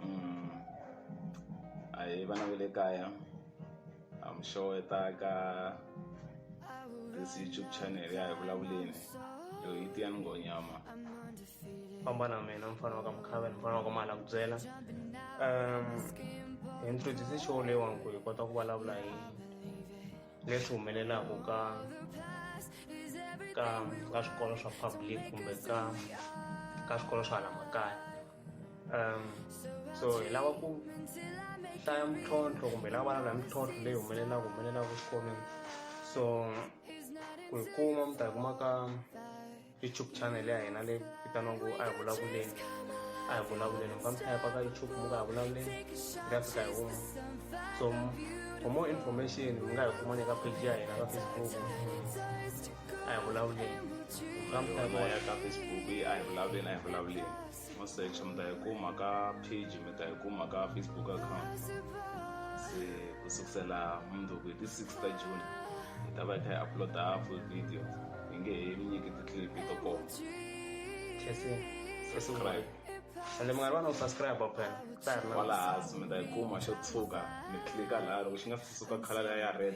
Mm. a hi vana va le kaya I'm sure ta ka this YouTube channel ya hi vulavuleni yo yi tiya ni ngonyama famba na mina mfana wa ka mkhava ni mfana wa ka mali a ku byela um hi introduce show leyiwani ku hi kota ku vulavula hi leswi humelelaka ka ka ka swikolo swa public kumbe ka ka swikolo swa hala makaya um so hi lava ku hlaya mintlhontlho kumbe hi lava va na mintlhontlho leyi humelelaka humelelaka swikolweni so ku yi kuma mi ta yi kuma ka youtube channel ya hina leyi vitaniwaku a hi vulavuleni a hi vulavuleni mi fambisa yapa ka youtube mi nga hi vulavuleni mi ta fika hi huma so for more information mi nga hi kuma ni ka page ya hina ka facebook a hi vulavuleni fambisa yapa ya ka facebook a hi vulavuleni a hi vulavuleni mo search mi ta yi kuma ka page mi ta yi kuma ka facebook account se ku sukusela mundzuku hi ti six ta june hi ta va hi kha hi uploada full video hi nge he mi nyiki ti-clip to koma subscribe ende munghana vana u subscribe phela ta ha ri na kwalaha mi ta yi kuma xo tshuka mi tlika laha loko xi nga si suka khala leya ya red